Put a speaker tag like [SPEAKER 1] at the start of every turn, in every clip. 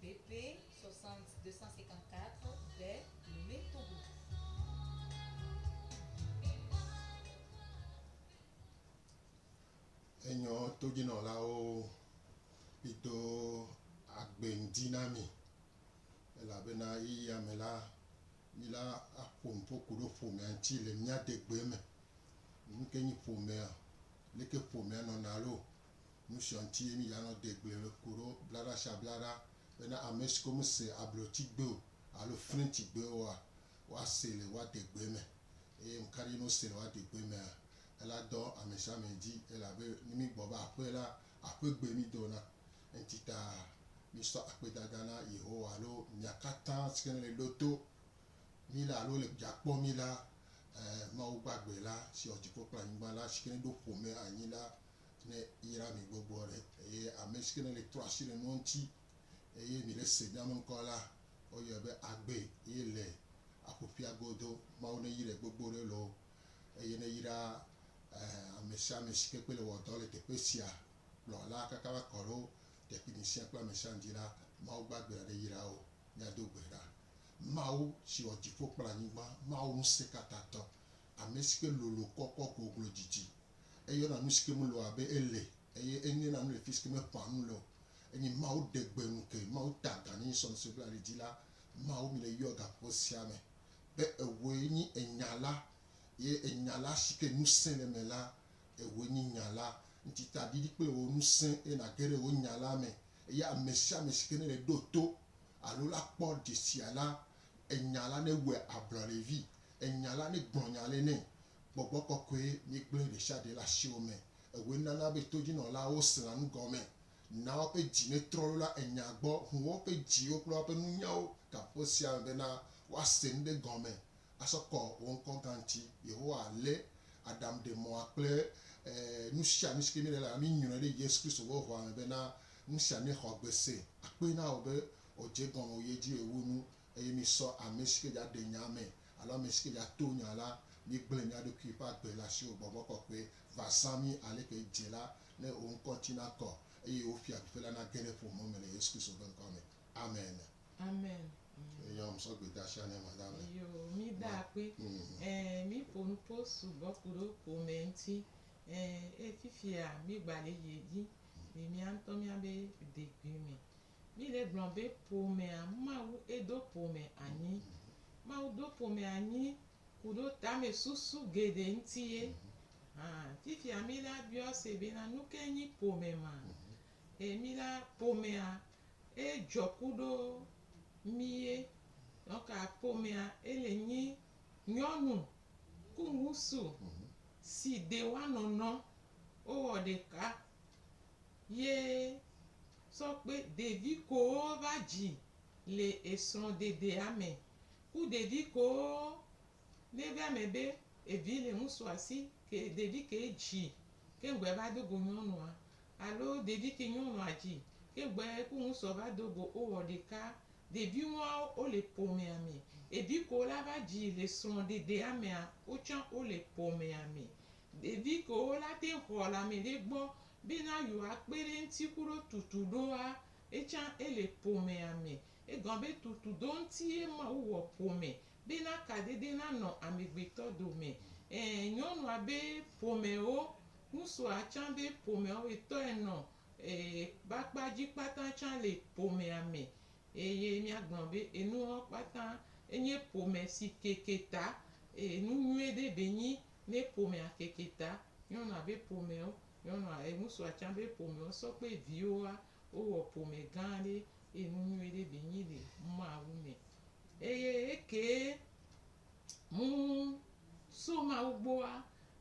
[SPEAKER 1] BP 60254 de
[SPEAKER 2] Lomé, Togo. Enyɔ todzinɔlawo yi do agbe ŋdi na mi, elabena ɣeyiɣia me la, mi la a ƒo nuƒo kuɖo ƒomea ŋti le mia degbee me. Nuke nyi ƒomea? Leke ƒomea nɔna loo? Nusiɔ ŋtie mí ya nɔ degble le koɖo blaɖa sia blaɖa bena amesiko me se ablɔti gbe o alo flɛnti gbe oa, woa se le woa degbe me. Eye ŋkaɖi ne wo se le woa degbe mea? Ela dɔ amesiame dzi elabe ne mí gbɔ va aƒe la, aƒe gbe mí do na. Eŋti ta mí sɔ akpedada na Yehowa alo mia katã sike ne le ɖo to mí la alo le dza kpɔ mí la, ɛɛ, Mawu gbagbe la si wɔ dziƒo kple anyigba la sike ne ɖo ƒome anyi la, Ne yra mi gbɔgbɔ ɖe, eye ame si ke ne le trɔ asi le nua ŋuti, eye mi le se nya me ŋkɔ la, woyɔe be agbe, eye le aƒuƒia godo, Mawu ne yrae gbogbo ɖe loo, eye ne yra ame sia ame si ke kpe le wɔ dɔ le teƒe sia kplɔ la kaka va kɔ ɖo tekpini sia kple ame sia ŋdi la, Mawu gbagbe aɖe yra wo. Mia do gbe ɖa. Mawu si wɔ dziƒo kple anyigba, Mawu ŋusẽkatãtɔ, ame si ke lolo kɔkɔ goglo didi, eye wona nu si ke mele o abe ele eye enye na nu le fi si ke meƒã nu le o. Enye Mawu ɖe gbe nu ke Mawu ta agan ne Yesu Kristo bla ɖe dzi la, Mawu mi le yɔ gaƒoƒo sia me be ewɔe nyi enya la ye enya la si ke ŋusẽ le eme la, ewɔe nyi nya la. Ŋti ta ɖiɖi kple wò ŋusẽ eye nàge ɖe wò nya la me eye ame sia ame si ke nele ɖo to alo la kpɔ dzesia la, enya la newɔe ablɔ ɖe vi, enya la negblɔ nya le nɛ Gbɔgbɔ kɔkɔe míegblẽ ɖesiaɖe le asiwò me. Ewɔe nana be todzinɔlawo sẽa nu gɔme, naa woƒe dzi metrɔ loo la enya gbɔ, ʋu woƒe dziwo kple woƒe nunyawo gaƒoƒo sia me bena woase nu ɖe gɔme asɔ kɔ wò ŋkɔ gã ŋuti. Yehowa lé Adam ɖe mɔa kple nusianu sike míele la, míŋlɔe ɖe Yesu Kristo ƒe ʋɔa me bena nusia nexɔ gbese akpee na wò be wòdze egɔme wòyi edzi wòwu nu Eye misɔ ame si ke dza ɖe nya me alo ame si ke dza to nya la, migblẽ mia ɖokui ƒe agbe le asiwò Gbɔgbɔ Kɔkɔe va zã mi aleke edze la, ne wò ŋkɔ ŋuti nakɔ, eye wò fiaɖuƒe la nage ɖe ƒome me le Yesu Kristo ƒe ŋkɔa me. Amen. Amen.
[SPEAKER 3] Ame. Eyɔ ŋ sɔ
[SPEAKER 2] gbe de asia ne ma da ame. Eyo, mi da
[SPEAKER 3] akpe. Ẽ, mi ƒo nuƒo sugbɔ ku ɖe ƒome ŋuti. Ẽ, eye fifia mi gba le yi edzi le mia ŋutɔ mia be degbui me. Mile gblɔm be ƒomea Mawu edo ƒome anyi. Mawu do ƒome anyi ku ɖo tame susu geɖe ŋuti ye. Hã fifia mi la biɔ se be na nuke nyi ƒome ma? E mi la ƒomea edzɔ ku ɖo mi ye. Nɔka ƒomea ele nyi nyɔnu ku ŋusu si de wa nɔnɔ wo wɔ ɖeka. Ye sɔ kpe ɖevi kowo va dzi le esrɔ̃ɖeɖea me ku ɖevi kowo ne va eme be evi le ŋusu asi ke ɖevi ke dzi ke ŋgbɔɛ va do go nyɔnua alo ɖevi ke nyɔnua dzi ke ŋgbɔɛ ku ŋusua va do go o wɔ ɖeka. Ɖevi woawo wo le ƒomea me. Evi kowo la va dzi le srɔ̃ɖeɖea mea wo tsã wo le ƒomea me. Ɖevi kewo la te xɔ le ame ɖe gbɔ bena yewoa kpe ɖe eŋuti ku ɖo tutu ɖoa, etsã ele ƒomea me. Egɔme be tutu ɖo ŋuti ye Mawu wɔ ƒome bena kadede na nɔ amegbetɔ dome. Ẽ, nyɔnua be ƒomewo, ŋusua tsã be ƒomewo etɔe nɔ e ƒe akpa dzi kpata tsã le ƒomea me. Eye miagblɔ be enuwo kpata enye ƒome si keke ta e nu nyuie ɖe be nyi Ne ƒomea keke ta, nyɔnua be ƒomewo, nyɔnua e ŋutsua tsã be ƒomewo sɔ kple viwoa, wowɔ ƒome gã aɖe eye nu nyui ɖe bi nyi le Mawu me. Eye ekee mu so Mawu gbɔa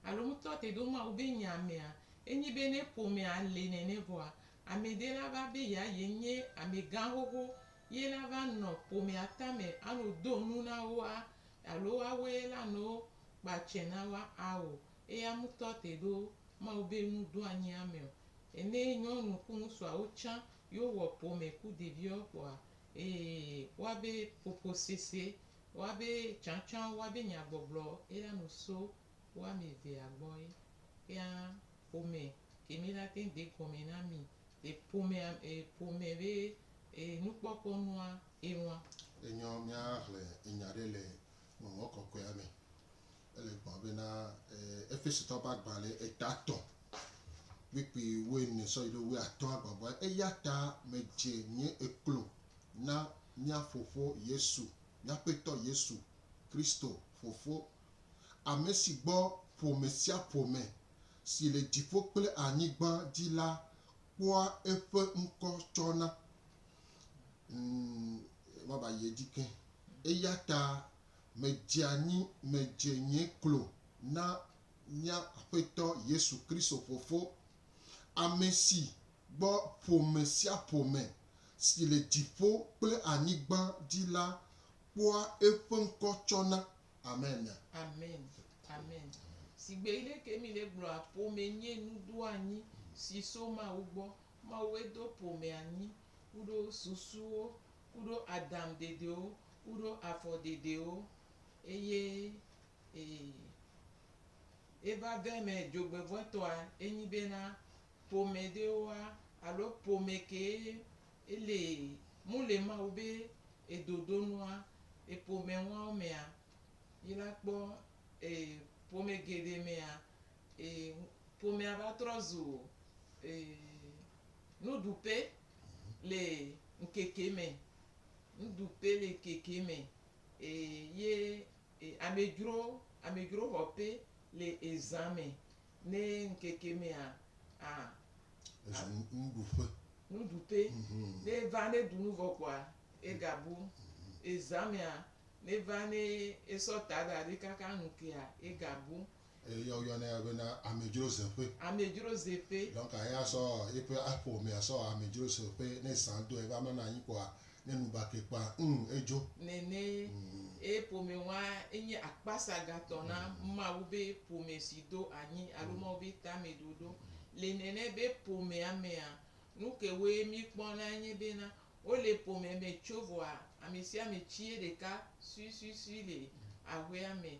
[SPEAKER 3] alo mu tɔ te ɖo Mawu be nya mea, enyi be ne ƒomea le nene vɔa, ame ɖe la va be ya ye nye amegã xoxo ye la va nɔ ƒomea tame ano do nu na woa, alo woawoe la no kpa tsɛ na wa ao, eya ŋutɔ te ɖo Mawu be nu do anyi ame o. Ene nyɔnu ku ŋusuawo tsã yo wɔ ƒome ku ɖeviɔ kpɔa, ee, wa be ƒoƒo sese, wa be tsãtsã, wa be nya gbɔgblɔ eya nu so wo ame evea gbɔ ye. Kea ƒome ke mi la teŋ de gɔme na mi le ƒomea, e, ƒome be e nukpɔkpɔ nua eŋu. Enyɔ
[SPEAKER 2] míaxlẽ nya ɖe le Ŋɔŋlɔ Kɔkɔea me. Ele gbɔgblɔm bena, Efesotɔwo ƒe agbalẽ eta tɔ̃ kpukpui wuiene sɔ yi ɖe wuiatɔ̃a gbɔgbɔe. Eya ta medze nye eklo na mía Fofo Yesu, mía Aƒetɔ Yesu Kristo Fofo, ame si gbɔ ƒome sia ƒome si le dziƒo kple anyigba dzi la kpɔa eƒe ŋkɔ tsɔna. Vava yi edzi ke. Eya ta medze anyi, medze nye klo na mía Aƒetɔ Yesu Kristo Fofo, ame si gbɔ ƒome sia ƒome si le dziƒo kple anyigba dzi la kpɔa eƒe ŋkɔ tsɔna. Amen. Amen.
[SPEAKER 3] Amen. Sigbe yi ɖe ke mi le gblɔa, ƒome nye nudoanyi si so Mawu gbɔ. Mawue do ƒome anyi kuɖo susuwo kuɖo adam dedewo kuɖo afɔ dedewo, eye e eva ve me djogbevɔetɔa enyi bena ƒome dewoa alo ƒome kee ele mu le Mawu be edodonua e ƒome ŋuawo mea, yi la kpɔ e ƒome geɖe mea, Ee, ƒomea va trɔ zu ee, nuɖuƒe le ŋkeke me. Nuɖuƒe le ŋkeke me ee, ye e, amedzro, amedzroxɔƒe le ezã me. Ne ŋkeke mea, a, Ezã nu- nuɖuƒe. nuɖuƒe. Mhm. Ne eva ne ɖu nu vɔ kɔa, egabu. Ezã mea, ne va ne esɔ ta da ɖi kaka ŋkea, egabu. Eya woyɔnɛ
[SPEAKER 2] ya bena amedzro zeƒe. Amedzro zeƒe.
[SPEAKER 3] Donc eya sɔ
[SPEAKER 2] eƒe ƒomea sɔ amedzro zeƒe ne zã doa eƒe amena anyi kpoa ne nu ba ke kpã ŋ edzo. Nene
[SPEAKER 3] eye ƒome wa enye akpasagatɔ na Mawu be ƒome si do anyi alo Mawu be tame ɖoɖo. Le nene be ƒomea mea nuke woe mi kpɔna nye bena wole ƒome me tso vɔa amesiame tsie ɖeka suisuisui le aƒea me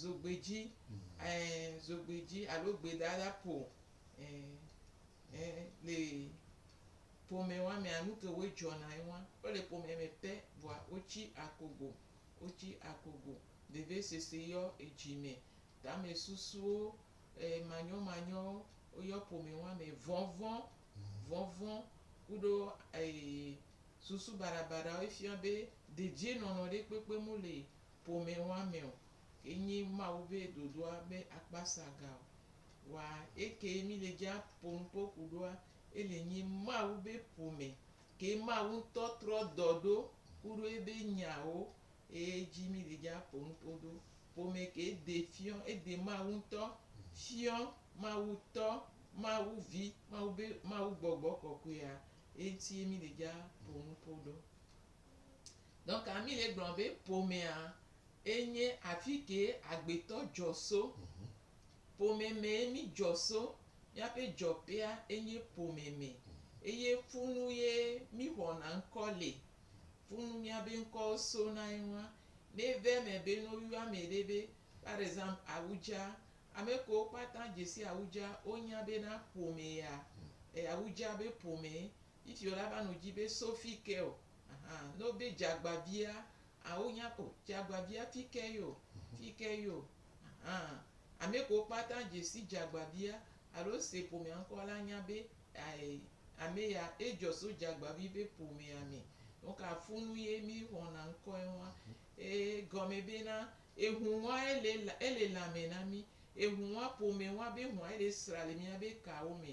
[SPEAKER 3] Zogbedzi, ɛ̃, zogbedzi alo gbedada ƒo, ɛ̃, ɛ̃, le ƒome wa mea, nu ke woe dzɔna ye wa. Wo le ƒome me pɛ vɔa wotsi akogo, wotsi akogo. Vevesese yɔ edzi me, tame susuwo, ɛ̃, manyɔmanyɔwo woyɔ ƒome wa me. Vɔvɔ̃, vɔvɔ̃ kuɖo, ɛ̃, susu baɖabaɖawo efia be dedienɔnɔ ɖe kpekpe mu le Ƒomewɔameɔ ke nyi Mawu be ɖoɖoa be akpa sa ga o. Wa eke mí le ji a po nupo kuɖoa, e le nyi Mawu be ƒome ke Mawu ŋtɔ trɔ dɔ ɖo kuɖo ebe nyawo eye ji mí le ji a po nupo ɖo. Ƒome ke de fiɔ, e de Mawu ŋtɔ fiɔ, Mawu tɔ, Mawu vi, Mawu be Mawu gbɔgbɔ kɔkɔea, eŋti ye mí le ji a po nupo ɖo. Nɔ ka Mile gblɔ be ƒomea e nye afi kee agbetɔ dzɔ so? Ƒome mee mi dzɔ so. Miaƒe dzɔƒea e nye ƒome me eye ƒu nu ye mi xɔna ŋkɔ le. Ƒu nu miabe ŋkɔwo so na eŋua. Ne eve eme be no yɔa ame ɖe be par exemple awudza, ame kewo kpata dze si awudza wo nya be na ƒome ya e awudza be ƒome Ŋutsuɔ la va nɔ dzi be, So fi ke o. Aha, ne wobe dzagbavia, a wonya, o, dzagbavia fi ke yo, fi ke yo. Aha, ame kewo kpata dze si dzagbavia, alo se ƒomea ŋkɔ la nya be, ae, ame ya, edzɔ so dzagbavi ƒe ƒomea me. Nu ka funu ye mí xɔna ŋkɔe ŋua? Ee, gɔme be na, eŋu ŋua ele, ele lãme na mí. Eŋu ŋua ƒome ŋua be ŋua ele sra le míabe kawo me.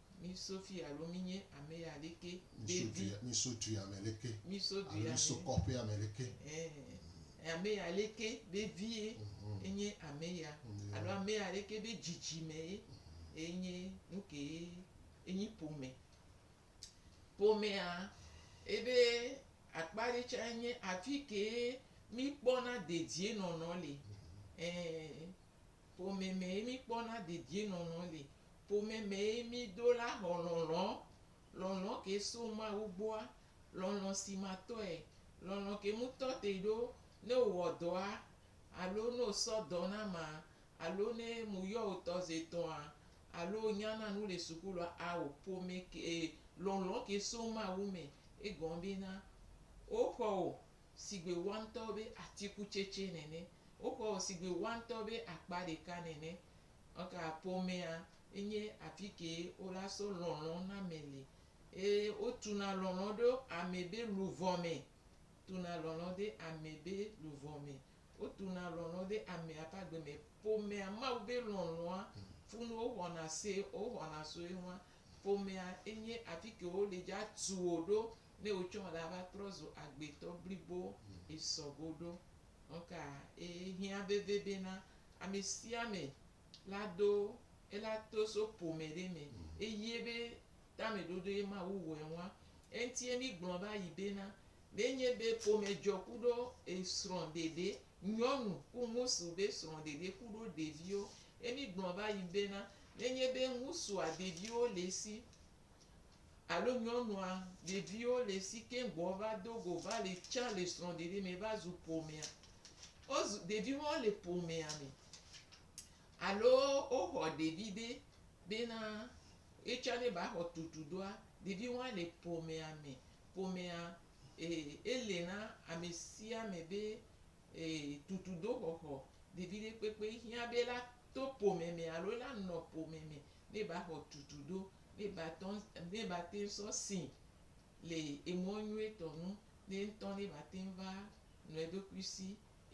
[SPEAKER 3] Mi so fi alo mi nye ame ya ɖeke be vi. Mi so du ya me
[SPEAKER 2] ɖeke. Mi so du ya me. Mi so
[SPEAKER 3] kɔƒe ya me
[SPEAKER 2] ɖeke. Ɛɛ,
[SPEAKER 3] ame ya ɖeke be vi ye enye ame ya. Alo ame ya ɖeke be dzidzi me ye enye nuke ye enyi ƒome. Ƒomea ebe akpa ɖe tsa enye afike mi kpɔna dedie nɔnɔ le. Ɛɛ, Ƒome mee míkpɔna dedienɔnɔ le. Ƒome mee mídola xɔ lɔlɔ̃, lɔlɔ̃ ke so Mawu gbɔa, lɔlɔ̃ si matɔe, lɔlɔ̃ ke ŋutɔ te ɖo ne wòwɔ dɔa alo ne wòsɔ dɔ na ma alo ne mu yɔ wò tɔ ze etɔ̃a alo wònya na nu le sukulua. Ao, ƒome ke, lɔlɔ̃ ke so Mawu me. Egɔme bena, woxɔ wò sigbe woantɔwo be atikutsetse nene. Woxɔ wò sigbe wɔ ŋutɔ be akpa ɖeka nene. Eka ƒomea enye afi kee wola sɔ lɔlɔ̃ na ame le. Eye wotuna lɔlɔ̃ ɖo ame be luvɔ me. Tuna lɔlɔ̃ ɖe ame be luvɔ me. Wotuna lɔlɔ̃ ɖe amea ƒe agbe me. Ƒomea, Mawu be lɔlɔ̃a funu woxɔna se woxɔna so eŋua. Ƒomea enye afi ke wole dza tu wò ɖo ne wotsɔ wò la va trɔ zu agbetɔ blibo esɔ go ɖo. Nɔka ee hiã veve be na amesiame la do ela toso ƒome ɖe me eye be tameɖoɖoe Mawu wɔe ŋua? Eŋtie mi gblɔ va yi be na, ne nye be ƒome dzɔ kuɖo esrɔ̃ ɖeɖe, nyɔnu ku ŋusu be srɔ̃ ɖeɖe kuɖo ɖeviwo, emi gblɔ va yi be na, ne nye be ŋusua ɖeviwo le esi, Alo nyɔnua, ɖeviwo le si keŋ gbɔ va do go va le tsa le srɔ̃ɖeɖe me va zu ƒomea. Wozu, ɖeviwo hã wole ƒomea me. Alo woxɔ ɖevi ɖe bena yetsã ne ba xɔ tutu doa, ɖeviwo hã le ƒomea me. Ƒomea, ee, ele na ame sia ame be, ee, tutudoxɔxɔ. Ɖevi ɖe kpekpe hiã be la to ƒome me alo la nɔ ƒome me ne ba xɔ tutu ɖo, ne ba tɔ, ne ba teŋ sɔ sii le emɔ nyuietɔ nu, ne ŋtɔ ne ba teŋ va nɔ eɖokui si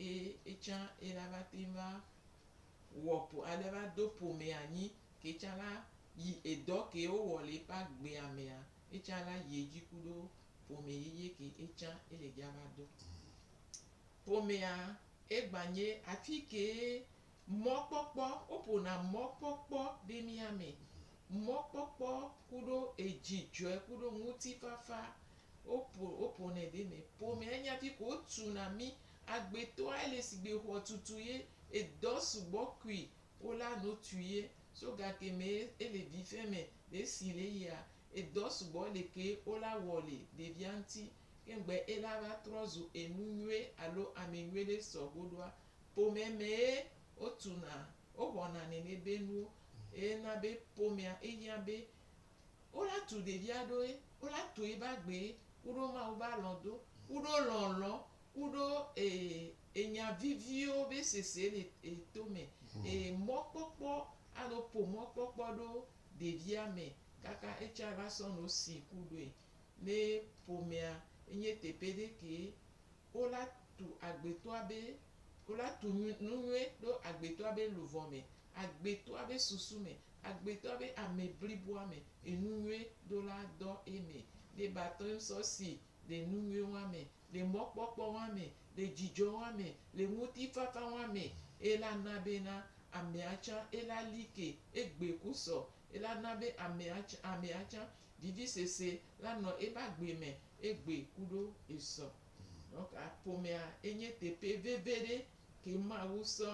[SPEAKER 3] eye etsã ela va teŋ va wɔ ƒo ale va do ƒome anyi ke tsã la yi edɔ ke wo wɔ le eƒe agbea mea, etsã la yi edzi kuɖo ƒome yeye ke etsã ele dza va do. Ƒomea egba nye afi kee Mɔkpɔkpɔ, woƒona mɔkpɔkpɔ ɖe mía me. Mɔkpɔkpɔ kuɖo edzidzɔe kuɖo ŋutifafa woƒo woƒonɛ ɖe mɛ. Ƒomea nya fiko wotu na mí. Agbetɔa ele sigbe xɔtutu ye edɔ sugbɔ kui wola no tui ye. So gake mɛ ele vife mɛ ɖe si le yia edɔ sugbɔ le ke wola wɔ le ɖevia ŋuti. Ke ŋgbe ela va trɔ zu enu nyuie alo ame nyuie ɖe sɔ goɖoa, Ƒome mee wotuna, wowɔna nenebenuwo eye na be ƒomea ehiã be wola tu ɖevia ɖo ye wola tu ebe agbe ye kuɖo Mawu be alɔ̃ do kuɖo lɔlɔ̃ kuɖo enya viviwo be sese le eto me eye mɔkpɔkpɔ alo ƒo mɔkpɔkpɔ ɖo ɖevia me kaka etsa la sɔ no si kuɖoe ne ƒomea enye teƒe ɖe kee wo la tu agbetɔa be, wo la tu nu nu nyuie ɖo agbetɔa be luvɔ me, agbetɔa be susu me, agbetɔa be ame bliboa me, enu nyuie ɖo la dɔ eme. Ɖe ba tɔe ŋsɔ si le nu nyuie wa me, le mɔkpɔkpɔ wa me, le dzidzɔ wa me, le ŋuti fafa wa me, e la na be na amea tsã e la li ke, e gbe ku sɔ, e la na be amea tsã amea tsã Ɖiɖisese la nɔ eƒe agbe me egbɔe ku ɖo esɔ. Donc ƒomea enye teƒe veve ɖe ke Mawu sɔ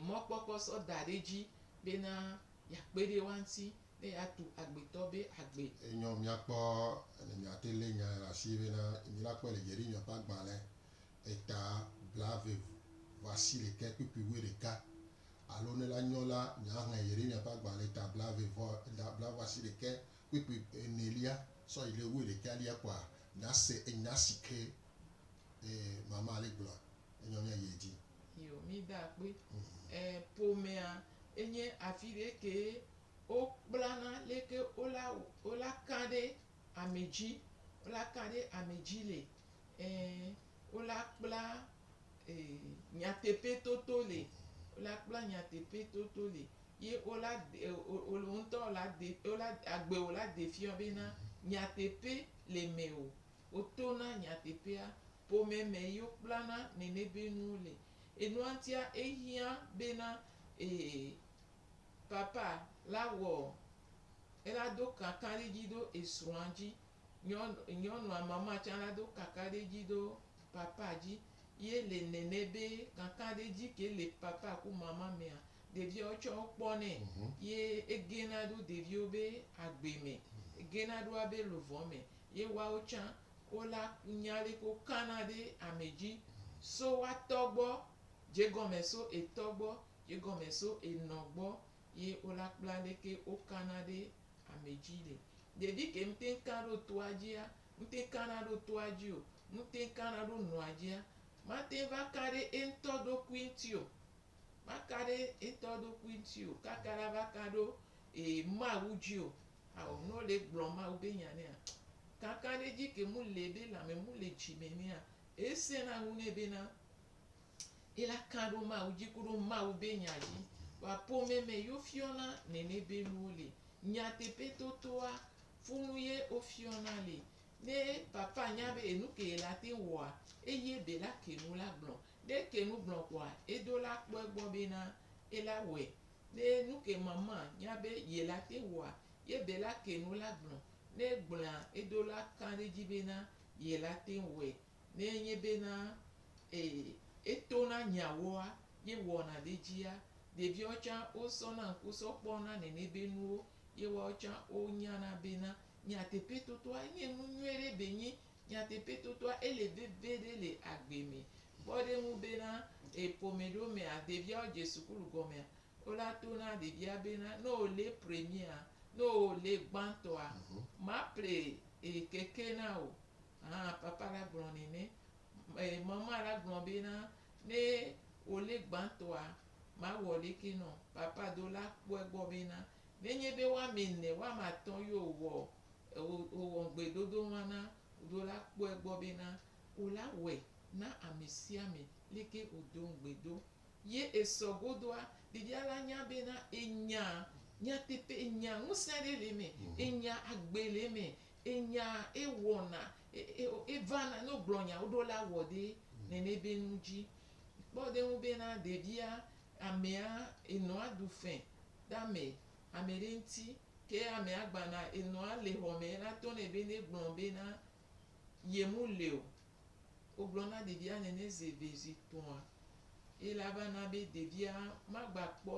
[SPEAKER 3] mɔkpɔkpɔ sɔ da ɖe edzi bena yeakpe ɖe woa ŋuti ne yeatu agbetɔ be agbe. Enyo míakpɔ
[SPEAKER 2] ne míate lé nyae ɖe asi bena, Mila kpɔe le Jeremiya ƒe agbalẽ eta blavevu vasi ɖekɛ kpikpi wuiɖeka, alo ne la nyɔ la, nyaŋɛ Yeremia ƒe agbalẽ eta blavevɔ eta blavasi ɖekɛ kpikpi enelia sɔ yi ɖe wuiɖekɛ lia kpɔa, nase enya sike e mama le gblɔa, enyɔ nya yi edzi. Yo, mi da
[SPEAKER 3] akpe. E ƒomea enye afiɖe kee wo kplana leke wo la wo la ka ɖe. ame dzi, wola ta ɖe ame dzi le, ẽ, wola kpla e, nyateƒetoto le, wola kpla nyateƒetoto le, ye wola de, e, wo, wo, wo ŋutɔ wola de, wola, agbe wola de fiɔ bena nyateƒe le me o. Wotona nyateƒea. Ƒome me ye wokplana nene be nuwo le. Enua ŋutia, ehiã bena e, papa la wɔ ela do kakaɖi dzi ɖo esrɔ̃a dzi, nyɔnu nyɔnua mama tsã la do kakaɖi dzi ɖo papa dzi. Ye le nɛnɛ be kakaɖi dzi ke le papa ku mama mea, ɖeviawo tsã wo kpɔnɛ ye egena ɖo ɖeviwo be agbe me, egena ɖo abe luvɔ me. Ye woawo tsã wo la nya ale ke wo kana ɖe ame dzi so woatɔ gbɔ, dze gɔme so etɔ gbɔ, dze gɔme so enɔ gbɔ, ye wo la kpla leke wo kana ɖe ame dzi le. Ɖevi ke ŋutɛn ka ɖo toa dzia, ŋutɛn kana ɖo toa dzi o, ŋutɛn kana ɖo nɔa dzia, matɛn va ka ɖe eŋutɔ ɖokui ŋuti o. Ma ka ɖe eŋutɔ ɖokui ŋuti o kaka la va ka ɖo e Mawu dzi o. Ao ne wo le gblɔ Mawu be nya nɛa, kakaɖedzi ke mu le be lãme mu le dzi me nɛa, e sɛna nu nɛ bena Ye la kã ɖo Mawu dzi kuɖo Mawu be nya dzi. Wa ƒome me yo fiɔna nɛnɛ be nuwo le. Nyateƒe totoa funu ye wo fiɔna le. Ne papa nya be enu ke ye la teŋ wɔa, eye be la ke nu la gblɔ. Ne ke nu gblɔ kɔa, edo la kpɔ egbɔ be na ye la wɔe. Ne nu ke mama nya be ye la teŋ wɔa, ye be la ke nu la gblɔ. Ne gblɔa, edo la kã ɖe dzi be na ye la teŋ wɔe. Ne enye bena ee, etona nyawoa, ye wɔna ɖe edzia, ɖeviawo tsã wosɔna ŋku sɔ kpɔna nɛnɛ be nuwo ye woawo tsã wonyana bena nyateƒetotoa nye nu nyuie ɖe be nyi nyateƒetotoa ele veve ɖe le agbe me. Kpɔ ɖe ŋu bena ee ƒome ɖewo mea, ɖeviawo dze sukulu gɔmea, wola tona ɖevia bena ne wòle premierea, ne wòle gbãtɔa, maple ee keke na wò. Hã papa la gblɔ nɛ ne e mama la gblɔ be na ne wo le gbantɔa ma wɔ leke nɔ papa do la kpɔe gbɔ be na ne nye be wa me ne wa ma tɔ yo wɔ o wɔ ŋgbe dodo wa na do la kpɔe gbɔ be na wo la wɔe na ame sia ame leke wo do ŋgbe do ye e sɔ godoa ɖevia la nya be na e nya nyateƒe e nya ŋusẽ ɖe le me e nya agbe le me Enya ewɔna, evana ne wogblɔ nya woɖo la wɔ ɖe nene be nu dzi. Kpɔ ɖe eŋu be na ɖevia, amea enɔa ɖu fe ɖe ame ame ɖe ŋuti. Ke amea gbana enɔa le xɔ me la to nɛ be ne gblɔ be na ye mu le o. Wogblɔ na ɖevia nene zi eve zi etɔ̃a eye la va na be ɖevia magba kpɔ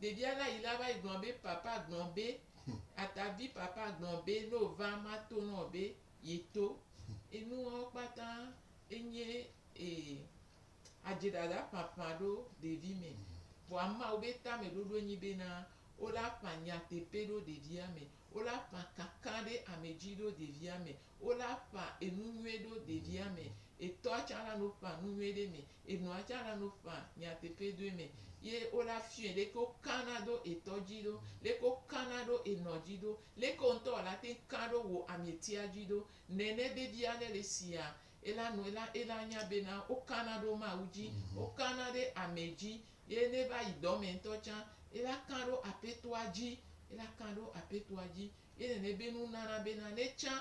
[SPEAKER 3] Ɖevia la yi la va yi gblɔ be papa gblɔ be atavi papa gblɔ be ne o va ma to na o be ye to. Enuawo kpata enye ee adze ɖaɖa ƒaƒã ɖo ɖevi me. Vɔa mawo be tame ɖoɖo enyi be na o la ƒã nyateƒe ɖo ɖevia me, o la ƒã kaka ɖe ame dzi ɖo ɖevia me, o la ƒã enu nyuie ɖo ɖevia me. Etɔa tsã la no ƒã nu nyuie ɖe me. enua tsã la no ƒã nyateƒe doe me ye wola fiɔe leke wokana ɖo etɔ dzi ɖo, leke wokana ɖo enɔ dzi ɖo, leke wò ŋutɔ wòla te ŋu ka ɖo wò ametia dzi ɖo. Nene be bia ɖe le sia ela nu ela ela nya bena wokana ɖo Mawu dzi, wokana ɖe ame dzi ye ne va yi dɔ me ŋutɔ tsã ela ka ɖo Aƒetɔa dzi ela ka ɖo Aƒetɔa dzi ye nene be nu nana bena ne tsã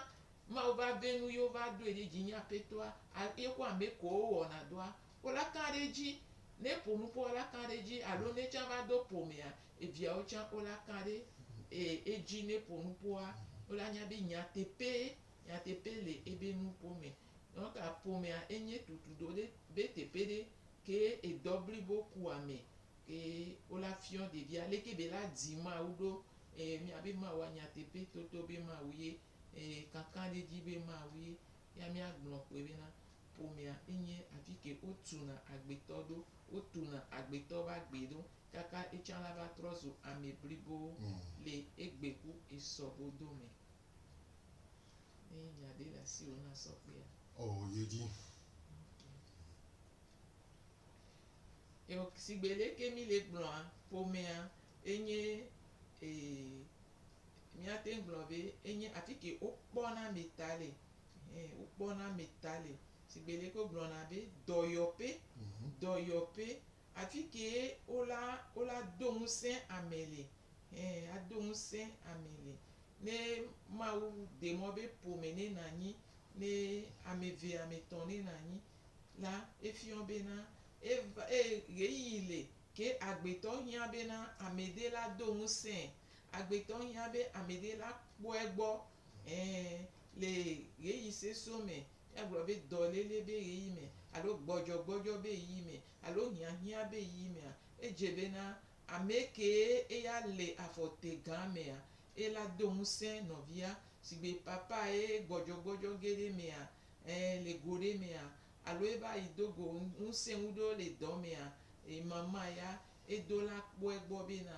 [SPEAKER 3] Mawu va vɛ nu ye wova doe ɖe dzi nyi apɛtɔa a ye ku amɛ kɔ wo wɔna dɔa wo la kan ɖe dzi. Ne po nupo wo la kan ɖe dzi alo ne tsan va do po mɛa evia wo tsan wo la kan ɖe e edzi ne po nupoa wo la nya be nyateƒe nyateƒe le ebe nupo mɛ. Donc a po mɛa enye tutu do ɖe be teƒe ɖe ke edɔ blibo ku amɛ ke wo la fiɔ ɖevia leke be la di Mawu ɖo e mia be Mawua nyateƒe toto be Mawu ye eye kankan ɖe edzi be mawui ya míagblɔ kpɔe bena ƒomea enye afi ke wotuna agbetɔ ɖo, wotuna agbetɔ ƒe agbe ɖo kaka etsã la va trɔ zu ame blibo le egbe ku esɔ godo me. Ne nya ɖe le asiwò na sɔ kpea. Oo, yi edzi. Eo, sigbe leke míle gblɔa, ƒomea enye ee. Míate ŋu gblɔ be enye atike wokpɔ na ame ta le, ɛhɛ, wokpɔ na ame ta le. Sigbe leke wogblɔna be dɔyɔƒe, dɔyɔƒe. Atike ye wola, wola do ŋusẽ ame le, ɛhɛ, ado ŋusẽ ame le. Ne Mawu ɖe mɔ be ƒome ne nànyi, ne ame eve, ame etɔ̃ ne nànyi la, efiɔ bena eva, e, ɣeyiɣi li ke agbetɔ hiã bena amede la do ŋusẽe. Agbetɔ hiã be ameɖe la kpɔe gbɔ, ẽ, le ɣeyiɣi sesõ me, míagblɔ be dɔléle be ɣeyiɣi me, alo gbɔdzɔgbɔdzɔ be ɣeyiɣi me, alo hiãhiã be ɣeyiɣi mea, edze bena amekee eya le afɔ te gã mea, ela do ŋusẽ nɔvia. Sigbe papa ye gbɔdzɔgbɔdzɔ ge ɖe emea, ẽ, le go ɖe mea, alo eva yi do go ŋusẽŋuɖewo le dɔ mea, ẽ, mama ya edo la kpɔe gbɔ bena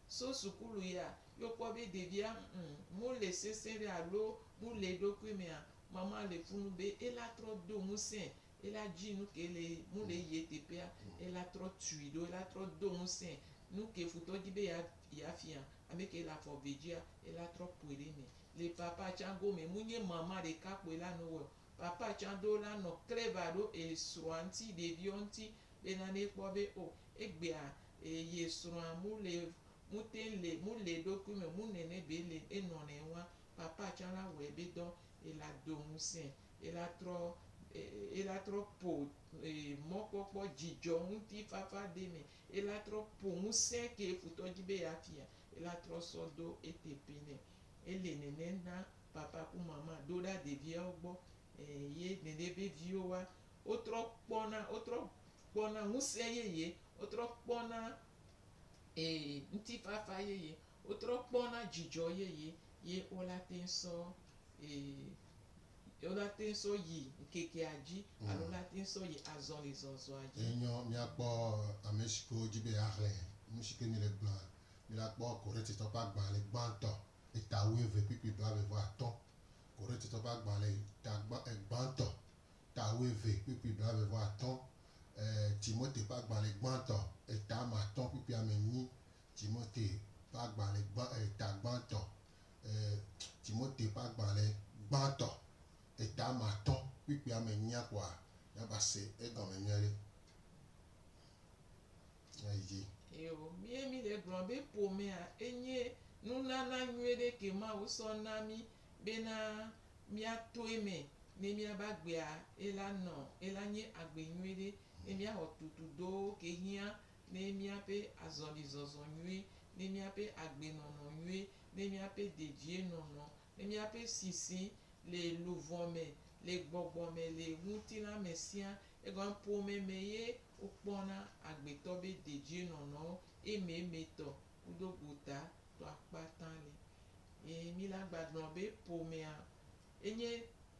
[SPEAKER 3] So sukulu ya, ye wokpɔ be ɖevia ŋu mole sesẽ ɖe alo mole eɖokui mea, mama le fu nu be ela trɔ do ŋusẽ ela dzi nuke le mole yie teƒea, ela trɔ tui ɖo ela trɔ do ŋusẽ nuke futɔ di be ya fia, ameke le afɔ ve dzia ela trɔ ƒoe ɖe eme. Le papa tsã gome, munye mama ɖeka kpoe la nɔ wɔe o. Papa tsã ɖo la nɔ kleva ɖo esrɔa ŋti, ɖeviɔ ŋti bena ne ekpɔ be o egbea E yi srɔa mu le mu teŋ le mu le eɖokui me mu nɛnɛ be le e nɔ nɛ wa papa can la wɔ ebe dɔ e la do ŋusɛ e la trɔ e la trɔ po e mɔkpɔkpɔ jijɔ ŋuti fafa de me e la trɔ po ŋusɛ ke futɔ ji be ya fia e la trɔ sɔ do ete pe nɛ e le nɛnɛ na papa ku mama doɖa ɖeviawo gbɔ e ye nɛnɛ be viwo wa Wotrɔ kpɔna, wotrɔ kpɔna ŋusẽ yeye, wotrɔ kpɔna ee ŋutifafa yeye, wotrɔ kpɔna dzidzɔ yeye ye wo la te ŋu sɔ ee wo la te ŋu sɔ yi ŋkekea dzi alo wo la te ŋu sɔ yi azɔlizɔzɔa dzi. Enyɔ míakpɔ
[SPEAKER 2] ame si ke wodi be yeaxlẽ nu si ke míele gblɔa. Mígakpɔ Korintitɔ ƒe agbalẽ gbãtɔ, eta wuieve kpukpui blaeve vɔ atɔ̃. Korintitɔ ƒe agbalẽ eta gbã, gbãtɔ, ta wuieve kpukpui blaeve vɔ atɔ̃, e, Timote ƒe agbalẽ gbãtɔ, eta ame atɔ̃ kpukpui ame enyi, Timote ƒe agbalẽ gbã, eta gbãtɔ, e, Timote ƒe agbalẽ gbãtɔ, eta ame atɔ̃ kpukpui ame enyia kpoa ya va se egɔme nyuie ɖe. Ya yi dzi. Yo, mí ye mí le
[SPEAKER 3] gblɔ be ƒomea enye nunana nyuie ɖe ke Mawu sɔ na mí. bena mía toe me ne mía ba gbea ela nɔ ela nye agbe nyuie ɖe ne mía xɔ tutu do ke hiã ne mía ƒe azɔli zɔzɔ nyuie, ne mía ƒe agbe nɔnɔ nyuie, ne mía ƒe dedie nɔnɔ, ne mía ƒe sisi le luvɔ me, le gbɔgbɔ me, le ŋutila me sia. Egɔme ƒome me ye wo kpɔ na agbetɔ be dedie nɔnɔwo ememe tɔ kudo gota tɔa kpata le. Ye Mila gbagblɔ be ƒomea enye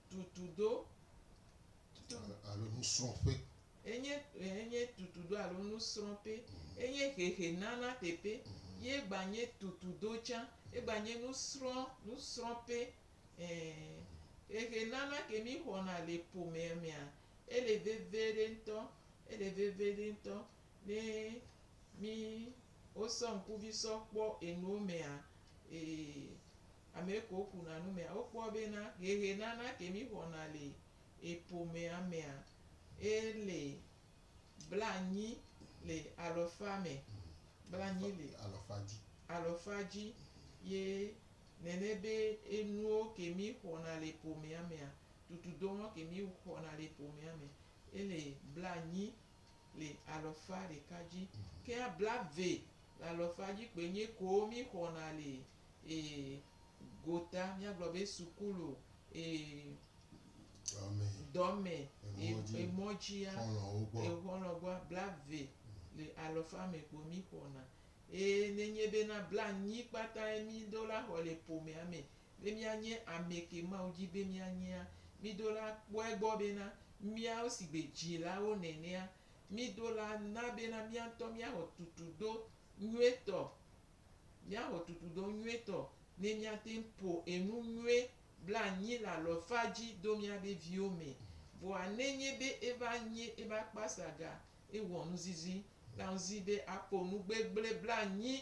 [SPEAKER 3] tutudo.
[SPEAKER 2] Alo nusrɔ̃ƒe. Enye
[SPEAKER 3] enye tutudo alo nusrɔ̃ƒe. Enye hehenana teƒe ye gbanye tutudo tsã. Egbanye nusrɔ̃ nusrɔ̃ƒe. Ẽ, hehenana ke mixɔna le ƒomea mea, ele veviɖe ŋutɔ. Ele veviɖe ŋutɔ. Ne mí wosɔ ŋkuvi sɔ kpɔ enuwo mea, ee, ame kewo kuna nu mea, wokpɔ bena ʋeʋenana ke mí xɔna le eƒomea mea, ele blanyi le alɔfa me, blanyi le alɔfa dzi. Ye nene be enuwo ke mí xɔna le eƒomea mea, tutudɔwo ke mí xɔna le eƒomea me, ele blanyi le alɔfa ɖeka dzi, ke blave le alɔfa dzi kpoe nye koo mí xɔna le e gota, mía gblɔ be sukulu e dɔme, emɔ dzia, exɔlɔ gbɔa, blave le alɔfa me kpo mí xɔna. Eye ne nye be na blanyi kpata ye mí ɖo la xɔ le ƒomea me, Be míanye amɛ ke Mawu di be míanyea, mído la kpɔe egbɔ bena míawo si gbe dzilawo nenea, mído la na bena mía ŋutɔ míaxɔ tutudo nyuietɔ. Míaxɔ tutudo nyuietɔ ne míate ŋu ƒo enu nyui blanyi le alɔfa dzi do míabe viwo mɛ. Vɔa nenye be eva nye ebe akpasaga ewɔ nuzizi la ŋzi be aƒo nu gbegble blanyi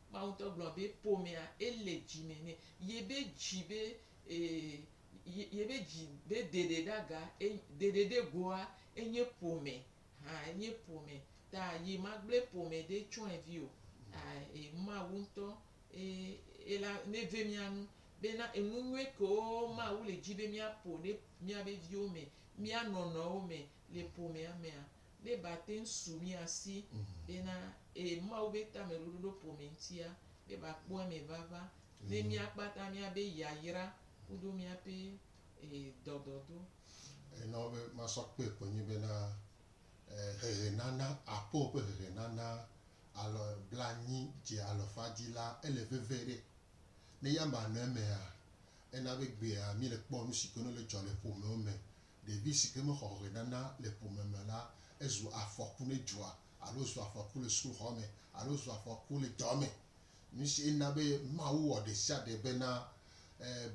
[SPEAKER 3] Mawu ŋutɔ gblɔ be ƒomea ele dzi me nɛ. Yebe dzi be ee yebe dzi be ɖeɖeɖaga ɖeɖeɖegoa enye ƒome hã enye ƒome ta ye magble ƒome ɖe tsɔe vi o e Mawu ŋutɔ e la neve mía nu bena enu nyuie kewo Mawu le dzi be míaƒo ɖe míabe viwo me, mía nɔnɔewo me le ƒomea mea be ba te ŋu su mia si be na ee Mawu be tameɖoɖo ɖo ƒome ŋutia be ba kpɔ eme vava ne mia kpata mia be yayra kudo mia ƒe ee dɔdɔdo. Ee na
[SPEAKER 2] wo be ma sɔ kpe ko nyi be na ee hehe nana aƒe wo ƒe hehe nana alɔ bla nyi dze alɔ fa dzi la ele veve ɖe. Ne ya ma nɔ emea, ena be gbea mi le kpɔ nusi ke no le dzɔ le ƒome wo me Ɖevi si ke mexɔ ʋɔnana le ƒome me la, ezu afɔku ne dzoa, alo zu afɔku le sukuxɔ me, alo zu afɔku le dɔ me. Nusie na be Mawu wɔ ɖesiaɖe bena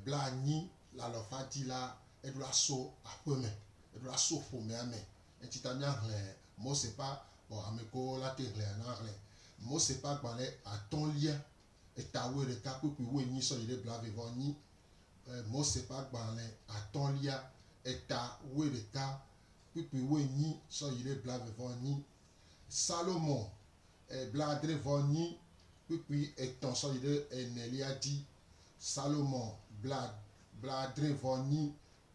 [SPEAKER 2] blaenyi le alafa dzi la, eɖo aso aƒe me, eɖo aso ƒomea me. Enti ta míaxlẽ Mose ƒe Hamekoo la te hlẽa na hlẽ. Mose ƒe agbalẽ atɔ̃lia, eta wuiɖeka kpukpuiwuienyi sɔ yi ɖe blaeve-vɔ-enyi. Mose ƒe agbalẽ atɔ̃lia, eta wuiɖeka kpukpui wuienyi sɔ yi ɖe blaeve vɔ enyi. Salomo, blaadre vɔ enyi kpukpui etɔ̃ sɔ yi ɖe enelia dzi. Salomo, bla, blaadre vɔ enyi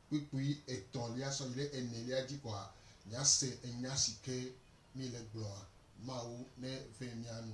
[SPEAKER 2] kpukpui etɔ̃lia sɔ yi ɖe enelia dzi koa, mìase enya si ke mìle gblɔa, Mawu neve mía nu.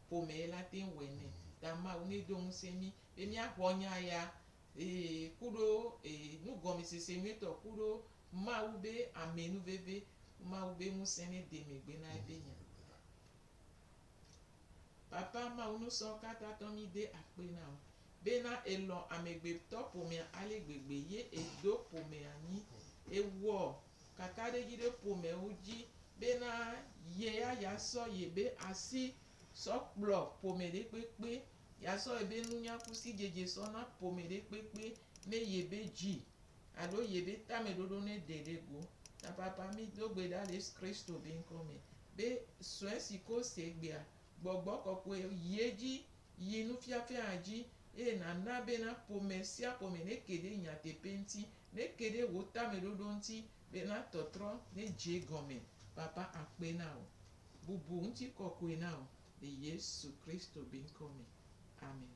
[SPEAKER 3] ƒomee la te ŋu wɔe nɛ. Ta Mawu nɛ do ŋusẽ mí be míaxɔ nya ya ee ku ɖo ee nugɔmesese nyuitɔ ku ɖo Mawu be amɛ nu veve ku Mawu be ŋusẽ nɛ de megbe na eƒe nya. Papa Mawu nusɔ kata tɔ mí de akpe na wò be na elɔ̃ amegbetɔ ƒomea ale gbegbe ye edo ƒomea nyi ewɔ kakaɖedzi ɖe ƒomewo dzi bena ye ya yeasɔ yebe asi sɔ kplɔ ƒome ɖe kpekpe, yeasɔ yebe nunyakusidzedze sɔ na ƒome ɖe kpekpe ne yebe dzi alo yebe tameɖoɖo ne ɖe ɖe go. Tapapa mi do gbe ɖa le Kristo be ŋkɔ me be sue si ke wose egbea, gbɔgbɔ kɔkɔe yi edzi Yi nufiafiaa dzi, eye nàna bena ƒome sia ƒome neke ɖe nyateƒe ŋuti, neke ɖe wò tameɖoɖo ŋuti be natɔtrɔ nedze gɔme. Papa akpe na wò. Bubu ŋutikɔkɔe na wò le Yesu Kristo be ŋkɔ me. Amen.